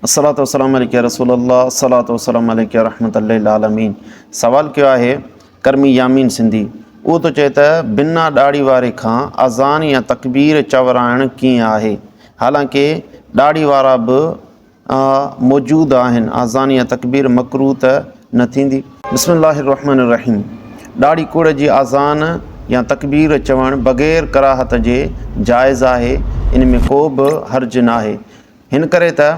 الصلوة والسلام عليك يا رسول الله الصلوة والسلام عليك يا رحمة للعالمين سوال ڪيو آهي ڪرمي يامين سنڌي اهو ٿو چئي ته بنا ڏاڙهي واري کان اذان يا تڪبير چورائڻ ڪيئن آهي حالانڪه ڏاڙهي وارا به موجود آهن اذان يا تڪبير مڪروه ته نه ٿيندي بسم الله الرحمن الرحيم ڏاڙهي ڪوڙ جي اذان يا تڪبير چوڻ بغير ڪراهت جي جائز آهي ان ۾ ڪو به حرج ناهي هن ڪري ته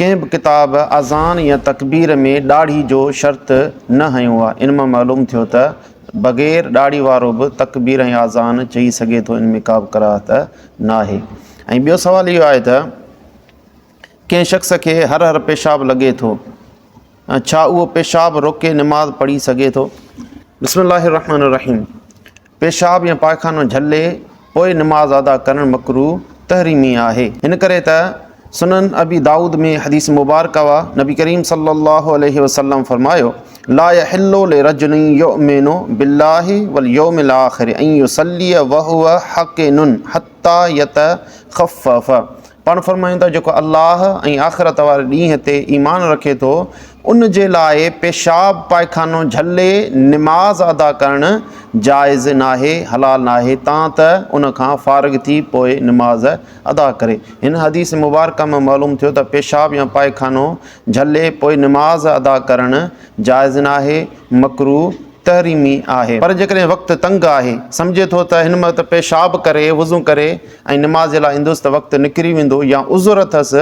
ڪنهن به ڪتاب اذان يا تڪبير ۾ ڏاڙهي جو شرط نه هنيو آهي. ان مان معلوم ٿيو ته بغير ڏاڙهي وارو به تڪبير ۽ اذان چئي سگهي ٿو ان ۾ ڪابه ڪراهت ناهي. ۽ ٻيو سوال اهو آهي ته ڪنهن شخص کي هر هر پيشاب لڳي ٿو ڇا اهو پيشاب روڪي نماز پڙهي سگهي ٿو؟ بسم الله الرحمٰن الرحيم. پيشاب يا پائخانو جهلي پوء نماز ادا ڪرڻ مڪروه، تحريمي، آهي. ان ڪري ته سنن ابي دائود ۾ حديث مبارڪه اها، نبي ڪريم صلي الله عليه وسلم فرمايو، لا يحل لرجل يؤمن بالله واليوم الاخر ان يصلي وهو حقن حتي يتخفف پاڻ فرمايون ٿا جيڪو الله ۽ آخرت واري ڏينهن تي ايمان رکي ٿو ان جي لاء پيشاب پائخانو جهلي نماز ادا ڪرڻ جائز ناهي، حلال ناهي، تان ته ان کان فارغ ٿي پوء نماز ادا ڪري. هن حديث مبارڪه مان معلوم ٿيو ته پيشاب يا پائخانو جهلي پوء نماز ادا ڪرڻ جائز ناهي، مڪروه تحريمي آهي. پر جيڪڏهن وقت تنگ آهي، سمجهي ٿو ته هن وقت پيشاب ڪري، وضو ڪري ۽ نماز جي لاء ايندس ته وقت نڪري ويندو يا عذر اٿس،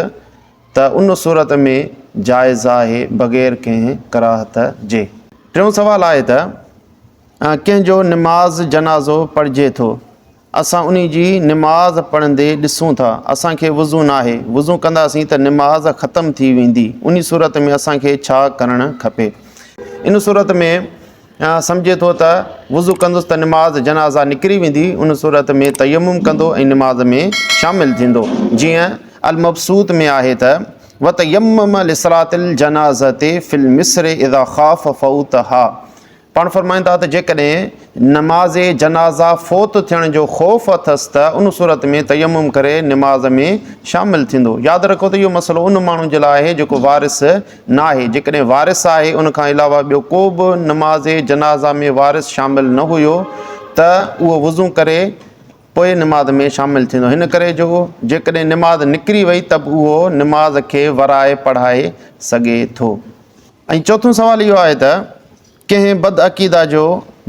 ته ان صورت ۾ جائز آهي بغير ڪنهن ڪراهت جي. ٽيون سوال آهي ته ڪنهن جو نماز جنازو پڙهجي ٿو اسان انهي جي نماز پڙهندي ڏسون ٿا اسان کي وضو ناهي وضو ڪنداسين ته نماز ختم ٿي ويندي انهي صورت ۾ اسان کي ڇا ڪرڻ کپي ان صورت ۾ يا سمجهي ٿو ته وضو ڪندس ته نماز جنازه نڪري ويندي، ان صورت ۾ تيمم ڪندو ۽ نماز ۾ شامل ٿيندو، جيئن المبسوط ۾ آهي ته، وتيمم لصلاة الجنازة في المصر اذا خاف فوتها پاڻ فرمائن ٿا ته جيڪڏهن نماز جنازه فوت ٿيڻ جو خوف اٿس ته ان صورت ۾ تيمم ڪري نماز ۾ شامل ٿيندو. ياد رکو ته اهو مسئلو ان ماڻهو جي لاء آهي جيڪو وارث ناهي، جيڪڏهن وارث آهي ان کان علاوه ٻيو ڪو به نماز جنازه ۾ وارث شامل نه هيو ته اهو وضو ڪري پوء نماز ۾ شامل ٿيندو هن ڪري جو جيڪڏهن نماز نڪري وئي ته به اهو نماز کي ورائي پڙهائي سگهي ٿو. ۽ چوٿون سوال اهو آهي ته. ڪنهن بد عقيده جو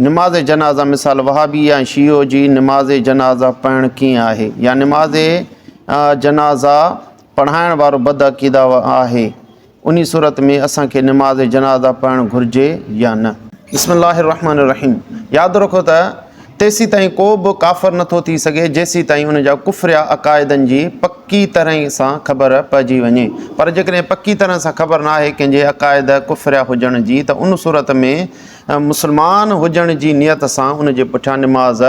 نماز جنازه مثال وهابي يا شيعو جي نماز جنازه پڙهڻ ڪيئن آهي يا نماز جنازه پڙهائڻ وارو بد عقيده آهي انهي صورت ۾ اسان کي نماز جنازه پڙهڻ گهرجي يا نه. بسم الله الرحمن الرحيم ياد رکو ته تيسيتائين ڪو به ڪافر نه ٿو ٿي سگهي جيسيتائين ان جا ڪفريا عقائدن جي پڪي طرح سان خبر پئجي وڃي. پر جيڪڏهن پڪي طرح سان خبر نه آهي ڪنهن جي عقائد ڪفريا هجڻ جي ته ان صورت ۾ مسلمان هجڻ جي نيت سان ان جي پٺيان نماز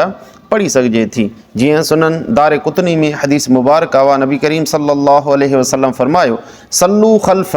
پڙهي سگهجي ٿي. جيئن سنن دارقطني ۾ حديث مبارڪه آهي نبي ڪريم صلي الله عليه وسلم فرمايو، صلو خلف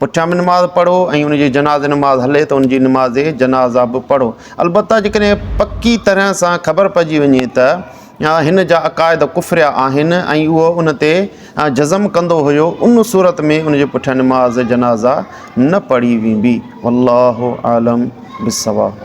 پٺيان به نماز پڙهو ۽ ان جي جنازي نماز هلي ته ان جي نماز جنازه به پڙهو. البته جيڪڏهن پڪي طرح سان خبر پئجي وڃي ته هن جا عقائد ڪفريا آهن ۽ اهو ان تي جزم ڪندو هيو ان صورت ۾ ان جي پٺيان نماز جنازه نه پڙهي ويندي. والله اعلم بالصواب.